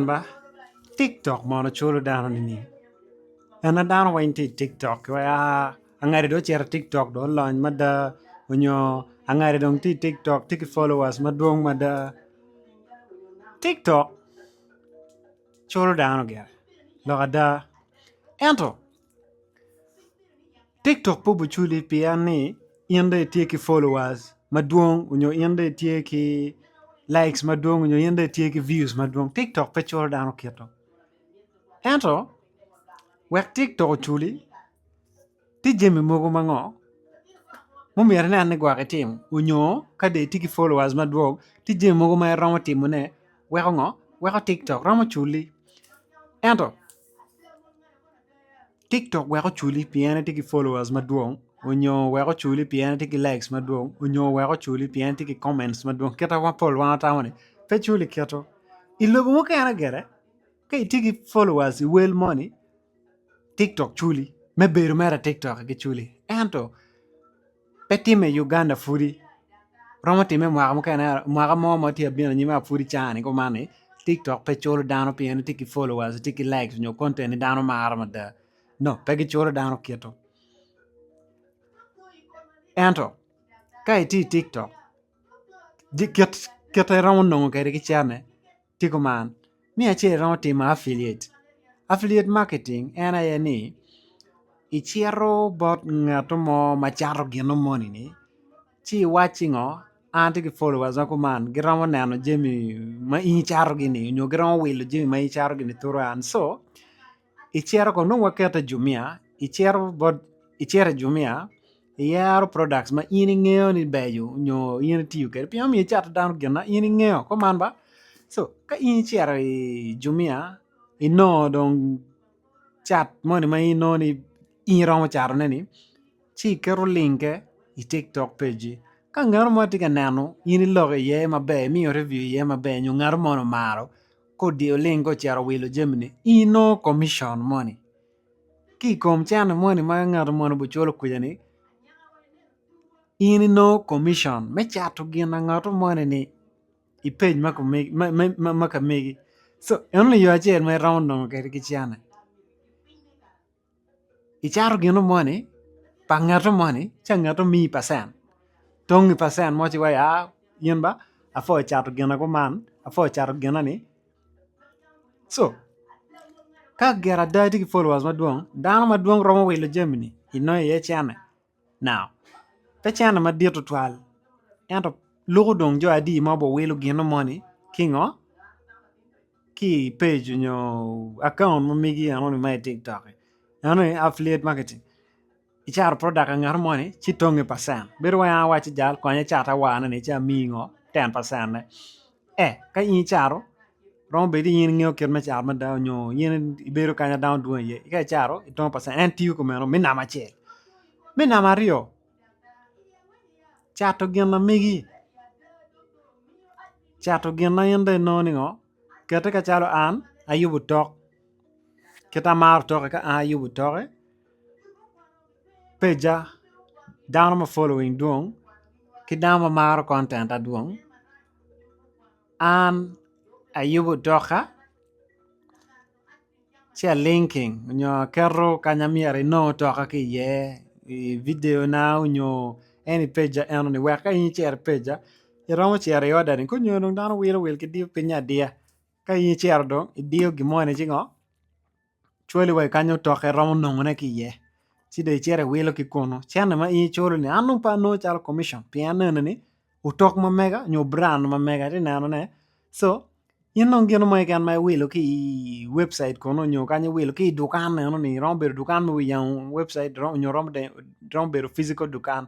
ba tiktok mono culo dano nining en ma dano weng tye i tiktok wa angade dong ocito i tiktok dong olony mada nyo angade dong tye i tiktok tye ki followers madwong mada tiktok culo dano gire lok ada ento Tiktok pe obiculi pien ni in dong itye ki followers madwong nyo in dong itye ki likes madwong nyo in dong itye ki views madwong tiktok pe culo dano kito ento wek tiktok oculi tye jami mogo ma ngo ma omyero inen ni gwok itim nyo ka dong itye ki followers madwong tye jami mogo ma iromo timone weko ngo weko tiktok romo culi ento Tiktok wek oculi pien en tye ki followers madwong nyo wek oculi pien en tye ki likes madwong nyo wek oculi pien en tye ki comments madwong kit ma pol wa watamo ni pe culi kito i lobo mukene gire ka itye ki followers i wel moni Tiktok culi me bedo mere i Tiktok-ki culi ento pe timme i Uganda pwodi romo timme i mwaka mukene mwaka mo ma tye ka bino anyim ma pwodi cani kuman ni tiktok pe culo dano pien ni tye ki followers tye ki likes nyo content ma dano maro mada dok pe giculo dano kito ento ka itye i tiktok kite iromo nongo kwede ki cene. tye kuman ni acel iromo timo apilit, apilit marketing en aye ni icito bot ngato mo ma cato gino moni ni ci iwacci ngo an atye ki followers ma kuman giromo neno jami ma in icato gi ni nyo giromo wilo jami ma in icato gi ni turu an so I cere ko nongo wakete jumia i cere bot i cere jumia iyero product ma in ingeyo ni beco nyo in itiyo kwede pien omiyo icato dano gin ma in ingeyo kor man ba so ka in icito i jumia inongo dong cat moni ma in inongo ni in iromo cato ne ni ci iketo linge i tiktok page-ci ka ngat mo tye ka neno in iloko iye maber imiyo review iye maber nyo ngato moni omaro Kodi oling ka ocito wilo jamine ino commission moni ki kom cene moni ma ngato moni obuculo kwija ni in ino commission me cato gin angato moni ni i page ma ka megi so eno ni yo acel ma iromo nongo kede ki cene. icato gino moni pa ngato moni ci angato omiyi pacen tongnge pacen mo ci wai aa in ba apwo ocato gina kuman apwo ocato gina ni co ka gin ada tye ki followers madwong dano madwong romo wilo jami ni inongo iye cene. Now, pe cente madit tutwal ento luko dong jo adi ma guwilo gino moni ki ngo? Ki i page nyo account ma megi enoni ma i tiktok ki eno aye affiliate marketing i cato product ngat moni ci tonge percent bedo wai an awaco jal konya cat awar ne ni ci amiyi ngo ten percent ne. Eh, ka in icato, romo bedo ni in ingeyo kit me cato mada nyo in ibedo kanya dano dwong iye. Ka icato, itongo pacen, en tiyo kong meno me namba acel. Me namba aryo, cato gin na megi, cato gin ma in dong inongo ni ngo, kete kacalo an ayubo tok, kit amaro tokke ka an ayubo tokke. peja dano ma following dwong ki dano ma maro content dwong an ayubo doka ci a linking nyo aketo ka ma myero inong toka ki iye i video na nyo en i peja eno ni wek ka in icito i peja iromo cito i order ni ka onyo dong dano wilo wil ki diyo pinye adiya ka in icito dong idiyo gin moni ci ngo cwali wa i kany otokke iromo nongone ki iye ci dong icito iwilo ki kunu cente ma in iculo ni an dong pe anongo calo komition pien aneno ni otok ma mega nyo brand ma mega atye ka neno ne so in dong gin mo keken ma iwilo ki i webcit kunu nyo kanya iwilo ki i dukan eno ni romo bedo dukan ma wiye oyang webcit nyo romo bedo physical dukan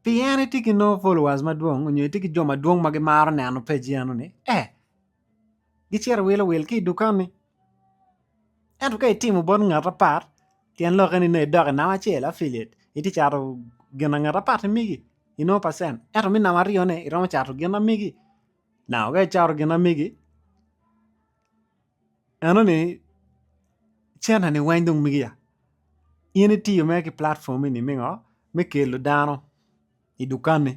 pi en itye ki nongo followers madwong nyo itye ki jo madwong ma gimaro neno page eno ni eh gicito giwilo wil ki i dukan ni ento ka itimo bot ngat apat tyen lokke ni nongo idok i namba acel affiliate itye cato gin ma ngat apat-ti migi inongo percent ento me namba aryone iromo cato gin ma migi naka ka icato gin ma migi Enoni center ni weng dong migi ya in itiyo mere ki platform eni me ngo me kelo dano i dukani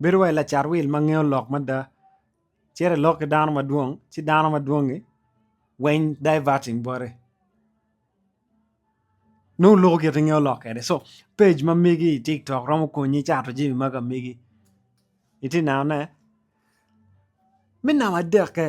bedo wai lacat wil ma ngeyo lok mada cito ilok ki dano madwong ci dano madwongi weng diverting bote nongo loko gin ma ingeyo lok kwede so page ma migi i tik tok romo konyi cato jami ma ka migi iti nenone me namba adek-ke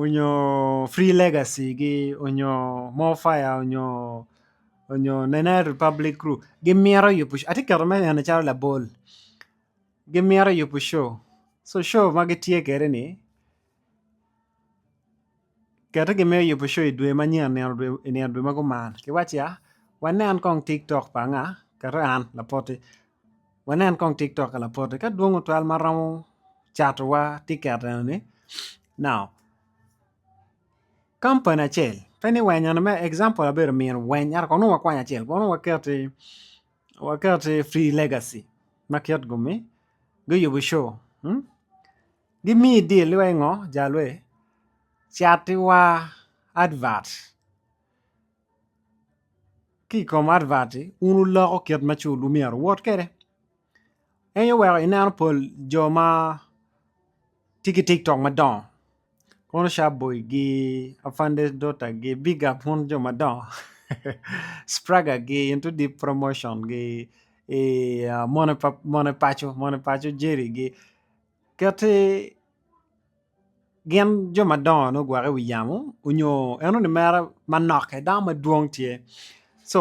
onyo free legacy gi onyo more fire onyo onyo nene republic group gimito yubo show atye keto me nene calo labol gimito yubo show so show ma gitye kwede ni kit ma gimito yubo show idwe manyen i nino dwe ma gumaro kiwaco ya wanen kong tik tok pa anga keto an lapoti. wanen kong tik tok ka lapot ni ka dwong otwal ma romo cato wa tiket eno ni now kampani acel pe ni weny eno me example abedo mino weny ento kong nongo wakwany acel kong nongo waketi waketi free legacy ma kit gumi guyubu co gimi deal ni wai ngo jalwe cati wa advert ki i kom advert wun wuloko kit ma cul-wu myero wuwot kwede en aye oweko ineno pol jo ma tye ki tiktok madongo kono cabboy gi afande dota gi big up un jo madongo spraga gi into deep promotion gi mone paco mone paco jerry gi kit-ti Gin jo madongo nongo gugwokke i wi yamo nyo en nongo limere manok kede dano madwong tye so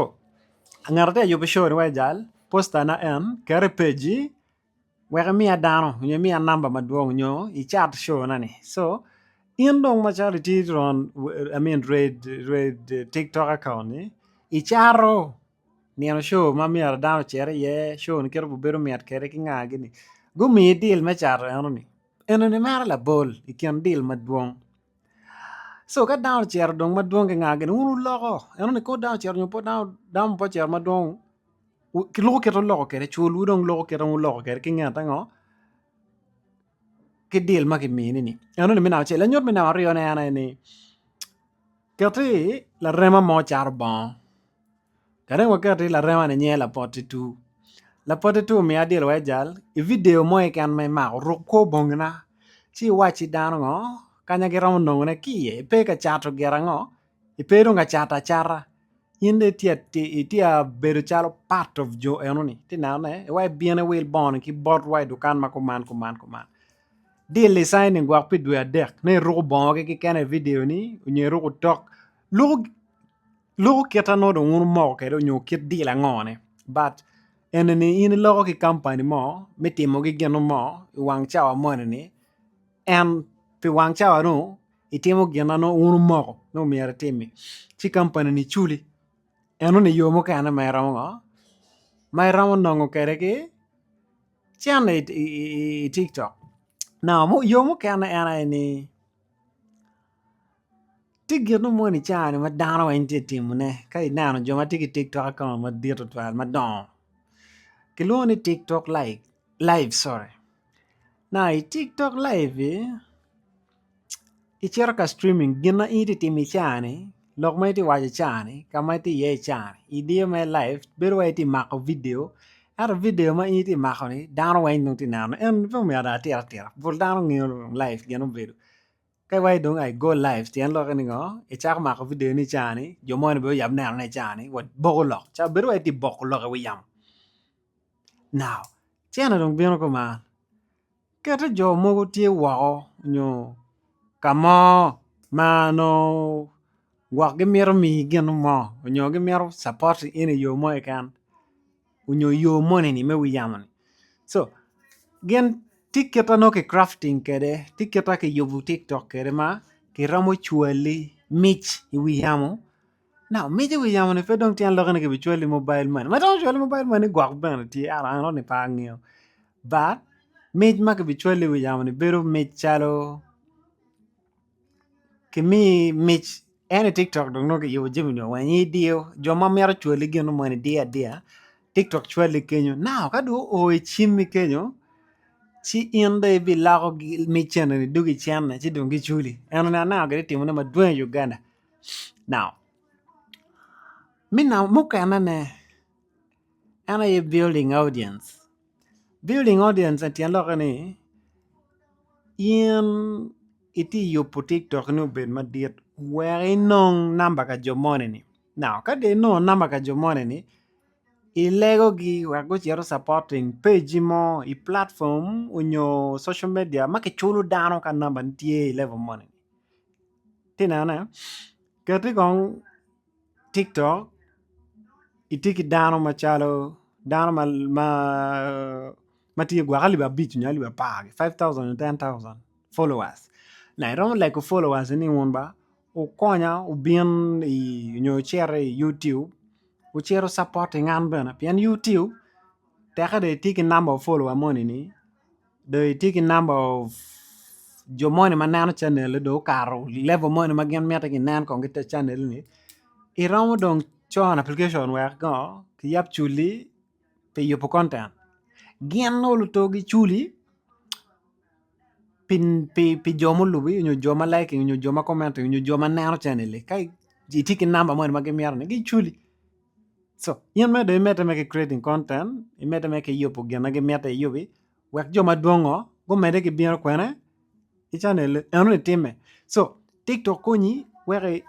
ngat ma tye ka yubo coo ni wai jal posta ne en kete i page-ci wek imiya dano nyo imiya namba madwong nyo icat coo ne ni so in dong macalo itye iron I mean tiktok akaunt ni icato nino coo ma myero dano ocit iye coo ni kit ma obedo mit kede ki nga gini gumiyi deal me cato eno ni. Enoni maro labol i kin dil madwong. Co ka dano ocito dong madwong ki ngagi ni wun wuloko enoni kadi dano ocito nyo pud dano pe ocito madwong loko kite wuloko kede cwolwu dong loko kite wuloko kede ki nget ango ki dil ma kimini ni enoni me namba acel. Lanyut me namba aryone en aye ni kiti larema mo caro bongo. Kadi dong waket ni larema-ni nyinge Lapotitu, Lapotitu omiyo adilo wai jal i vidio mo keken ma imako, ruk kwo bongina, ci iwacci dano ngo kanya giromo nongone ki iye, ipe ka cato gire ango, ipe dong ka cato acata, in dong itye ka bedo calo part of jo enoni, itye ka nenone ni wai ibin iwil bongoni ki bot wa i dukan ma kuman kuman kuman, dil-li saini gwok pi dwe adek ni iruko bongogi keken i vidio-ni nyo iruko otok. Loko kite anongo dong wun wumoko kwede onyo kit deal ango ni but eni ni in iloko ki kampani mo me timo gi gin mo i wang cawa moni ni and pi wang cawa ni itimo gin ma wun wumoko ni myero itimi ci kampani ni culi enoni yo mukene ma iromo ngo ma iromo nongo kwede ki cen i tiktok now yo mukene en aye ni Tye gin mo i caa-ni ma dano weng tye ka timone ka ineno jo ma tye ki tik tok akaonto madit tutwal madongo kilwongo ni tik tok live i tik tok live-vi icito ka citimming gin ma in itye ka timo i caa-ni. lok ma itye waco cani ka ma itye iye cani idiyo mere live bedo wai itye mako video ento video ma in itye mako ni dano weng dong tye neno en pe omyero dong atir atira pol dano ngeyo dong live gin obedo ka iwaco dong ai go live pien lokke ni ngo icako mako video ni cani jo moni bene oyab neno ne cani wa boko lok ca bedo wai itye boko lok i wi yamo now cene dong bino kuman. Kite jo mogo tye woko nyo ka mo ma nongo gwok gimito miyi gin mo nyo gimito capot in iyo mo keken nyo iyo moni ni me wi yamoni co gin tye kit ma nongo ki crafting kwede tye kit ma kiyubo tiktok kwede ma kiromo cwali mic i wi yamo Naomic wi yamo ni pe dong tyen lokke ni ki bi cwali mobile money ma dong ocwali mobile money ni gwok bene tye an aye ni pe angeyo but mic ma ki bi cwali wi yamo ni bedo mic calo ki mii mic en i tiktok dong nongo ki yubo jami ni weng i diyo jo ma mito cwali gin mo ni diyo adiya tiktok cwali kenyo now ka dong o i cimi kenyo ci in dong i bi loko mic eni ni dong i cene ci dong gi culi eno ni aneno ki ti timone madwong i Uganda Now, mukene ne en aye building audience, building audience ni tyen lokke ni in itye yubo tiktok ni obed madit wek inong number ka jo moni ni now ka dong inongo number ka jo moni ni ilego gi wek gucit gu supporting page mo i platform onyo social media ma kiculo dano ka number ni tye i level moni. ti nene keti kong tiktok itye ki dano macalo dano ma tye gwok alip abic nyo alip apar five thousand nyo ten thousand followers ma iromo lego followers ni wun ba wukonya wubin i nyo wucit i Youtube wucit wu capoting an bene pien Youtube teke dong itye ki namba follower moni ni do itye ki number of jo moni ma neno canel do okato level moni ma gin miti ginen kong gite canel ni iromo dong con application wek ko kiyab culi pi yubu konten gin nongo luto giculi pi jo mulubi nyo jo ma liking nyo jo ma commenti nyo jo ma neno canel ni ka itye ki number moni ma gimito ni giculi co in me dong imedde mere ki creating content imedde mere ki yubu gin ma gimite iyubi wek jo madwongo gumedde ki bino kwene i canel li eno ni timme co tiktok konyi wek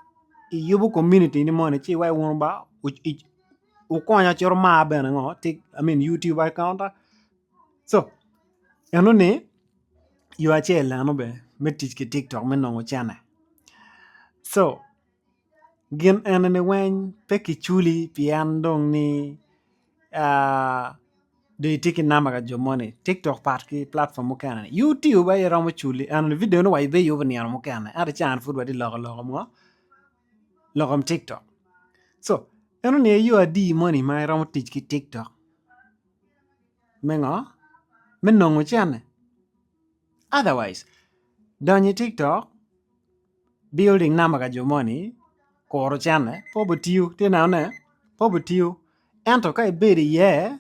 iyubu komuniti ni moni ci iwek wun ba wukonya ci wumar bene ngo tik i mean YouTube account ta co eno ni yo acel eno bene me tic ki tiktok me nongo cene co gin enini weng pe ki culi pien dong ni dong itye ki namba ka jo moni tiktok pat ki platform mukene ni youtube aye iromo culi enoni video ni wa ibi yubu nino mukene ento ca pud watye loko loko mo loko tiktok co enoni aye yo adi moni ma iromo tic ki tiktok me ngo me nongo cene. Otherwise donyo i tiktok building number ka jo moni kuru cene pe obitiyo tye neno ne pe obitiyo ento ka ibedo iye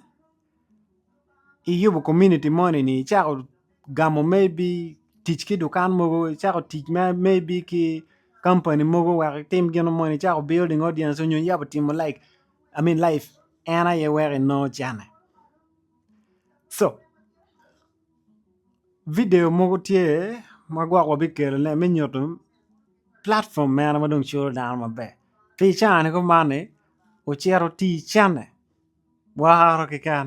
iyubo komuniti moni ni icako gamo maybe tic ki dukan mogo icako tic ma maybe ki kampani mogo wek itim gin mo moni icako building audience nyo iyabo timo like I mean live en aye weko inongo cene so Video mogo tye ma gwok wabikelo ne me nyuto platform mene ma dong culo dano maber ki i caa ni kuman ni ocito ticce ni woro keken.